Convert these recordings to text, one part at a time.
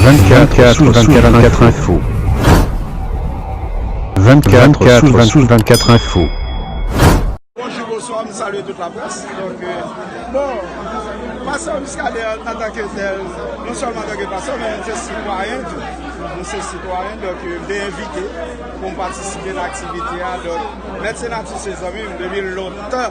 24 sous 24 24 info 24 sous 24 24 info Bonjour, bonsoir, m salue tout la presse Donc, euh, bon, pasteur Muscadin an tant que tel Non seulement en tant que pasteur, men m se citoyen tou M se citoyen, donc euh, m te invite pou m participer nan activité a Donc, Mèt Senatous se zanmi m depi lontan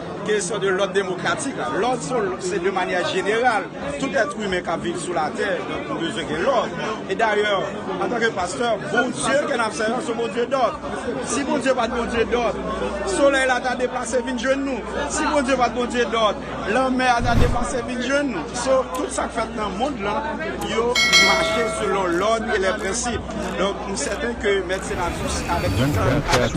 Kesyon de lòd demokratik la. Lòd se de manyè jeneral. Tout èt imen kap viv sou latè donk nou bezwen gen lòd. E dayè, antanke pastè, Bondye ke nap sèvi se yon Bondye dòd. Si Bondye pat Bondye dòd, solèy la ta deplase vin jwenn nou. Si Bondye pat Bondye dòd, lanmè a ta deplase vin jwenn nou. So, tout sak fèt nan mond lan, yo mache selon lòd e lè prensip. Donk, m sèten ke Mèt Senatus avèk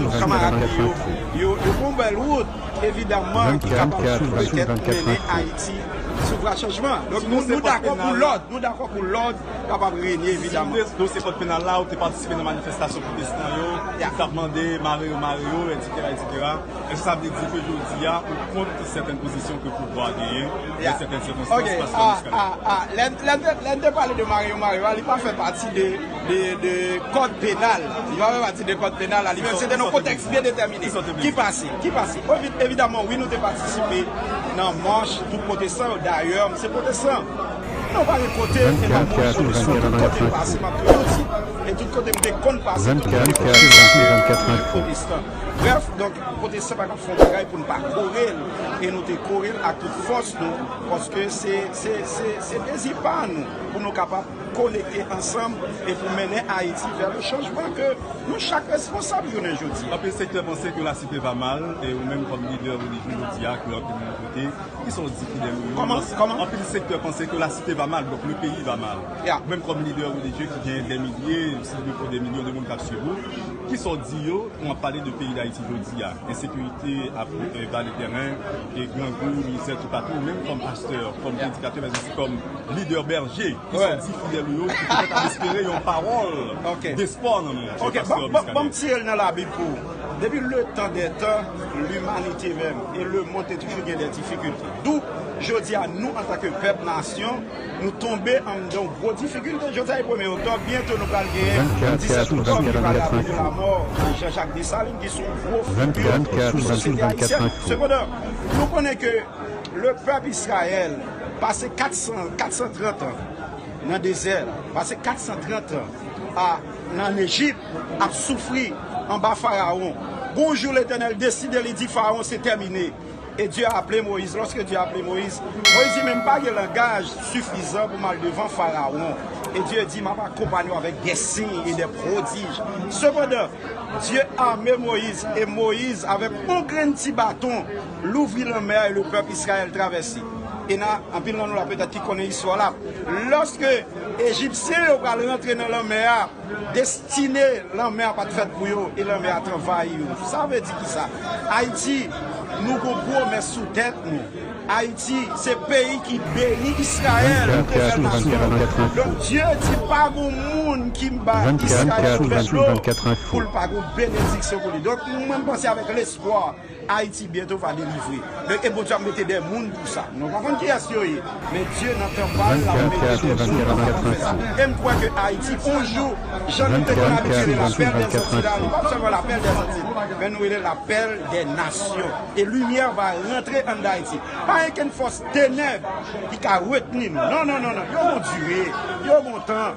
tout kanmarad li yo. Yo pran bèl wout, evidaman, ki kapab petèt mennen Ayiti sou vwa chanjman. Donk nou dakò pou lòd, nou dakò pou lòd kapab renye evidaman. Si nou se kòd penal la, ou te patisipe nan manifestasyon pwotestan yo, ki t ap mande mare yo, mare yo, etsetera, etsetera, èske sa vle di ke jodi a ou kont sèten pozisyon ke pouvwa a genyen nan sèten sikonstans? Paske jiska lè. Lè n te pale de mare yo, mare yo a, li pa fè pati de. de kòd penal, li pa fè pati de kòd penal la, li menm se te nan yon kontèks byen detèmine. Ki pase? Ki pase? Evidaman wi nou te patisipe nan mach pou pwotesan yo, dayè m se pwotesan. Non pa gen kote m te pa moun sou le sou, tout kote m pase m ap toujou di, e tout kote m te konn pase, tout kote m te konn pase, m te toujou pwotestan. Brèf, donk pwotesan pa ka fè yon bagay pou n pa kore l, e nou te kore l ak tout fòs nou, paske se, se, se dezi pa nou pou nou kapab. konekte ansanm e pou mennen Ayiti vè le chanjman ke nou chak responsab jounen jodi a. Anpil sektè panse ke lasite va mal e ou menm kòm lidè relijye jodi a ke anpil moun koute, ki sa w di Fidel Wilmon? Kòman? Kòman? Anpil sektè panse ke lasite va mal, donk le peyi va mal. Ya. Ou menm kòm lidè relijye ki gen dè milye, si li defo dè milyon de moun k ap swiv ou, ki sa w di yo kan w ap pale de peyi Dayiti jodi a? Ensekirite ap envadi tèren e grangou, mizè toupatou. Ou menm kòm pastè, kòm predikatè, mèzousi kòm. Lidè Bèje, ki sòti ti fidèl ou yo ki petèt ap espere yon pawòl despò nan men ou, Pastè Miskaden. Ok, banm tire l nan labib pou ou. Depi letan dè tan, limanite menm e lemonn te toujou gen dè difikilte. Dou, jodi a, nou antanke pèp, nasyon, nou tonbe anndan yon gwo difikilte. Jodi a se premye oktòb, byento nou pral genyen 17 oktòb ki va raple lamò Jan Jak Desalin ki se yon gwo figi sou sosyete ayisyen. Sepandan, nou konnen ke le pèp Israyèl, Pase 400, 430 an nan dezè, pase 430 an a nan Lejip ap soufri anba Farawon. Gon jou Letènèl deside li di Farawon se tèmine e Dye aple Moyiz. Lòske Dye aple Moyiz, Moyiz di men m pa gen langaj sifizan pou m al devan Farawon. E Dye di m ap akonpanye w avèk de siy e de pwodij. Sepandan, Dye ame Moyiz e Moyiz avèk on grenn ti baton. Louvri lanmè a e le pèp Israël travèse. E nan, anpil nan nou la petèt ki konnen istwa la, lòske Ejipsyen yo pral rantre nan lanmè a, destine lanmè a pa t fèt pou yo e lanmè a t anvayi yo. Sa vle di kisa? Ayiti, nou gon pwomès sou tèt nou. Ayiti, se peyi ki beni Israël pou te fè nasyon. Donk, Dye di pa gon moun ki ba Israël vèdlo pou l pa gon benediksyon pou li. Donk, mwen panse avèk lespwa. Ayiti byento va delivre men e Bondye ap mete dè moun pou sa nou pa konn kiyès yo ye men Dye nan tan pal lap mete dè moun pou sa pou fè sa em kwè ke Ayiti on jou jan nou te konn abitye rele lapèl dè zantiy la nou pap sèlman lapèl dè zantiy men nou rele lapèl dè nasyon e limyè va rantre an dayiti pa gen kenn fòs tenèb ki ka retni nou non non non yo gon dire yo gon tan.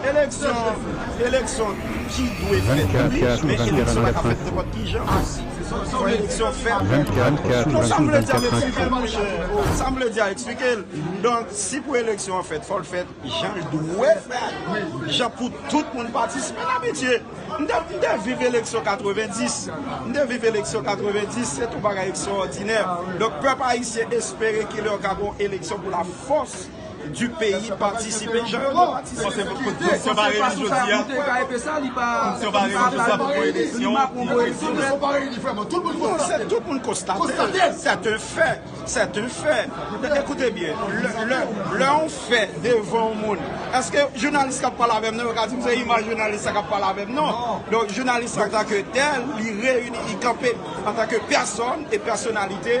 Eleksyon, eleksyon ki dwe fèt wi, men eleksyon pa ka fèt nenpòt ki jan osi. Fò eleksyon fèt. Donk sa m vle di a m eksplike l monchè, sa m vle di a eksplike l. Donk si pou eleksyon an fèt, fò l fèt jan l dwe fèt, jan pou tout moun patisipe. M abitye, m te viv eleksyon 90, m te viv eleksyon 90, se t on bagay ekstra òdinè. Donk pèp ayisyen espere kilè ka gon eleksyon pou la fòs. du peyi patisipe Jean Claude Pote pou kote Pou se pa reyini jodi a Pou se pa reyini jodi a Pou mwen eleksyon Pou mwen eleksyon Se tout moun konstate Se te fè Se te fè Ekoute byen Lè on fè devan on moun Eske jounalis kap pale avèm nan Yo ka dim se imaj jounalis la kap pale avèm nan Donk jounalis la antanke tèl Li reyini li kanpe Antanke pèsòn e pèsonalite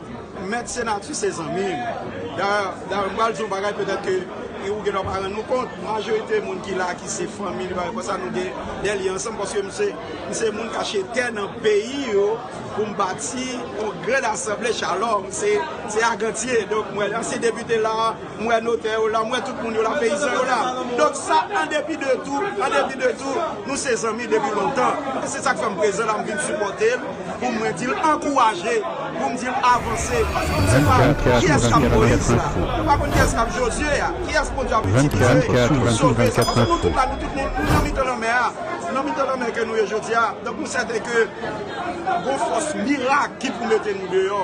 Mèt Senatus se zanmi m. Dayè, m pral di yon bagay petèt ke ou gendwa pa rann nou kont, majorite moun ki la ki se fanmi li, bagay konsa, nou gen dè lyen ansanm paske m se, m se moun k achte tè nan peyi yo pou m bati yon gran asanble Shalom, se Agantye, donk mwen ansyen depite la. M wè notè yo la, m wè tout moun yo la, peyizan yo la. Donk sa an depi de tou, an depi de tou, nou se zanmi depi lontan. E se sa k fè m prezan la, m vin sipòte l pou mwen di l ankouraje, pou m di l avanse. Paske m se pa kiyès k ap Moyiz la, m pa konn kiyès k ap Jozye a, kiyès Bondye ap itilize pou sove. Sa pase nou tout la, nou tout nou nan mitan lanmè a, se nan mitan lanmè ke nou ye jodi a. Donk nou sèten ke gon fòs mirak ki pou mete nou deyò.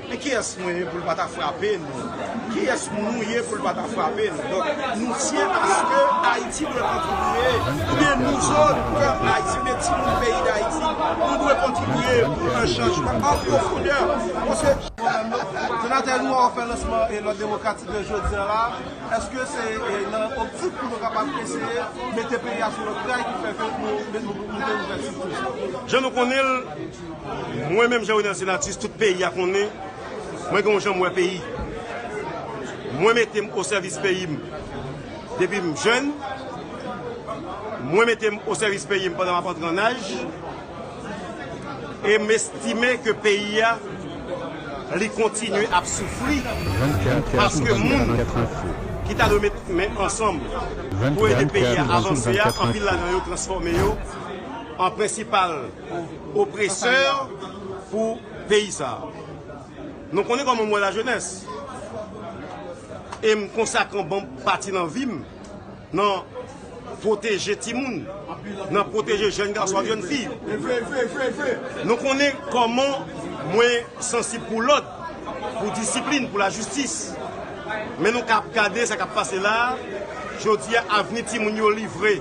Men kiyès mwen ye pou l pa ta frape nou? Kiyès nou ye pou l pa ta frape nou? Donk, nou tyen aske Ayiti dwe kontribye, oubyen nou zòn, pèp Ayiti, oubyen timoun peyi Dayiti, nou dwe kontribye pou yon chanjman an pwofondè. Monsye. Senatè, nou wè w ap fè lansman lòd demokratik yo jodi an la. Èske se nan optik pou nou kapab eseye mete peyi a sou lòt ray ki fè ke nou mete ouvèti toujou? Jan nou konnen l, Mwen menm Jean Renel Senatus tout peyi a konnen mwen gen yon jan m wè peyi. Mwen mete m o sèvis peyi m depi m jèn, mwen mete m o sèvis peyi m pandan m ap antre an aj e m estime ke peyi a li kontinye ap soufri paske moun ki ta dwe met men ansanm pou ede peyi a avanse a anpil ladan yo transfòme yo an prensipal pou opresè pou peyi sa. Nou konnen kòman mwen wè la jenès. E m konsakre yon bon pati nan vi m nan pwoteje timoun, nan pwoteje jèn gason ak jèn fi. Nou konnen kòman mwen sansib pou lòd, pou disiplin, pou lajistis. Men nou ka gade sa k ap pase la a, jodi a avni timoun yo livre.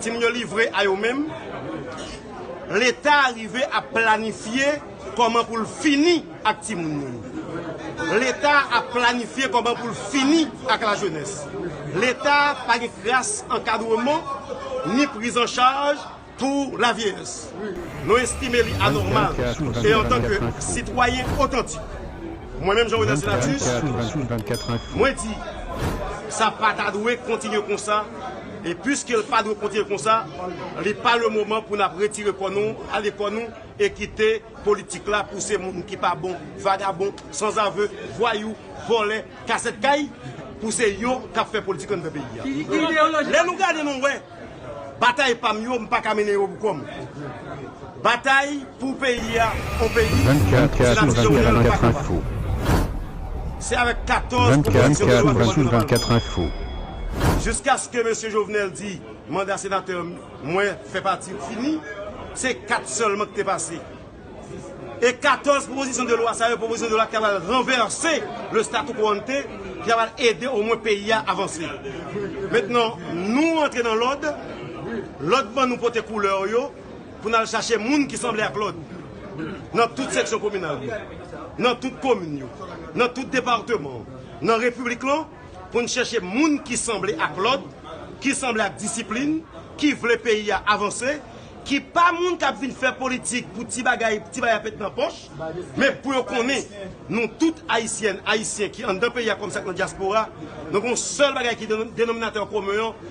Timoun yo livre a yo menm. Leta rive ap planifye kòman pou l fini ak timoun moun. Leta ap planifye kòman pou l fini ak lajenès. Leta pa gen kras ankadreman ni prizanchaj pou lavyeyès. Nou estime li anòmal e antanke sitwayen otantik, mwen menm Jean-Renel Senatus, mwen di sa pa ta dwe kontinye konsa. E piske l pa dwe kontinye konsa, li pa le moman pou n ap retire kò nou, ale kò nou e kite politik la pouse moun ki pa bon, vagabon, sanzave, vwayou, vòlè, kasèt kay, pouse yo k ap fè politik anndan peyi a. Lè nou gade nou wè batay pa m yo m pa ka mennen yo pou kò m. Batay. Pou peyi a, on peyi, se nan vizyon klè yo pa kapab. Se avèk 14 pwopozisyon de lwa depoze nan palman. Jiskaske mesye Jovenel di manda senatè mwen fè pati yo fini, se 4 sèlman ki te pase. E 14 pwopozisyon de lwa sa yo, pwopozisyon de lwa ki ta pral ranvèse le statu quo ante, ki ta pral ede omwen peyi a avanse. Mentnan nou antre nan lòd, lòd ban nou pote koulè yo. Pou n al chache moun ki sanble ak lòt nan tout seksyon kominal yo, nan tout komin yo, nan tout departeman an, nan repiblik lan, pou n chèche moun ki sanble ak lòd, ki sanble ak disiplin, ki vle peyi a avanse, ki pa moun k ap vin fè politik pou ti bagay, ti bay ap ret nan pòch, men pou yo konnen nou tout Ayisyèn, Ayisyen ki anndan peyi a kòm sa k nan dyaspora, nou gen yon sèl bagay ki denominatè komen an,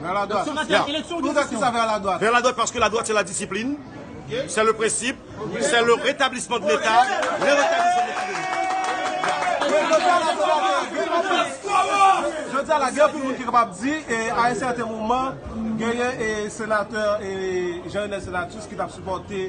Vers la droite. Yeah. Pou sa ki sa vers la droite? Vers la droite paske la droite se la disiplin, se le prensip, se le retablisman de leta, le retablisman de leta. Jodi a la gen anpil moun ki kapab di e a un certain moment genyen e senateur e Jean Renel Senatus ki tap supote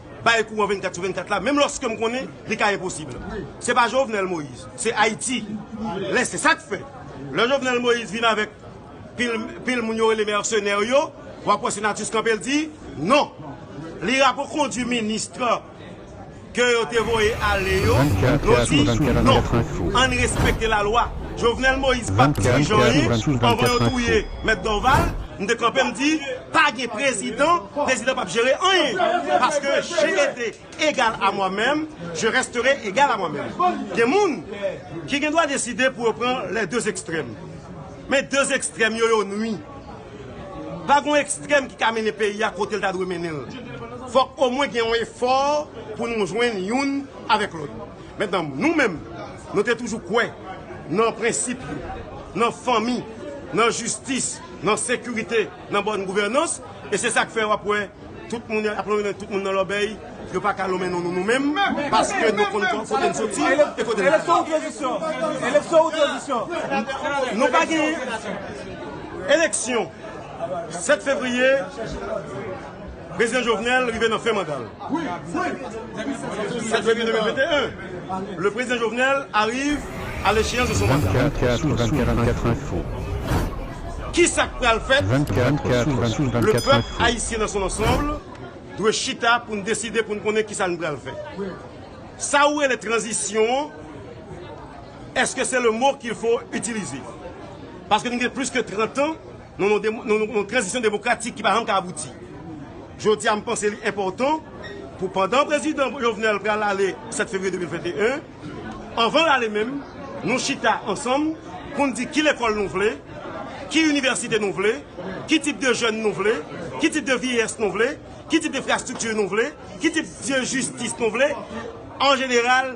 Bay kouran 24 sou 24 la menm lòske m konnen li ka enposib. Se pa Jovenel Moise, se Ayiti. Lè se sa k fè, lè Jovenel Moise vin avèk pil moun yo rele mèsenè yo, w ap wè Senatus kanpe l di non. Li rapokondui ministre ke yo te voye ale yo, yo di non, ann respekte lalwa. Jovenel Moise pa t dirijan anyen anvan yo touye Mèt Dorval, m te kanpe m di. Pa gen prezidan, prezidan pap jere anyen paske je ete egal a mwa menm, je restere egal a mwa menm. Gen moun ki gen dwa deside pou yo pran lè de ekstrèm. Men de ekstrèm yo yo nwi. Pa gen yon ekstrèm ki ka mennen peyi a kote l ta dwe mennen l. Fòk omwen gen yon efò pou nou jwenn youn avèk lòt. Mentnan nou menm nou te toujou kwè nan prensip yo, nan fanmi, nan jistis. nan sekirite, nan bòn gouvènans, e se sa k fè w ap wè tout moun ap lonmen tout moun nan lòbèy, yo pa ka lonmen nou nou menm, paske nou konn kote n soti e kote n ale. Eleksyon ou tranzisyon? Eleksyon ou tranzisyon? Nou pa gen eleksyon 7 fevriye. Prezidan Jovenel rive nan fen manda l. 7 fevrier 2021, Le Prezidan Jovenel arrive à l'echeyans de son mandat. 24 sous 24 info. Kisa k pral fèt? 24 sous 24 info. Le pèp ayisyen nan son ansanbl dwe chita pou n deside pou n konnen kisa n pral fè. Sa ou rele tranzisyon an, eske se le mo qu'il faut utiliser? Paske nou gen plis ke 30 ans Nan yon tranzisyon demokratik ki pa janm ka abouti. Jodi a m panse li enpòtan pou pandan prezidan Jovenel pral ale 7 fevriye 2021, anvan l ale menm, nou chita ansanm pou n di ki lekòl nou vle, ki inivèsite nou vle, ki tip de jèn nou vle, ki tip de vyeyès nou vle, ki tip de enfrastrikti nou vle, ki tip de jistis nou vle, an jeneral.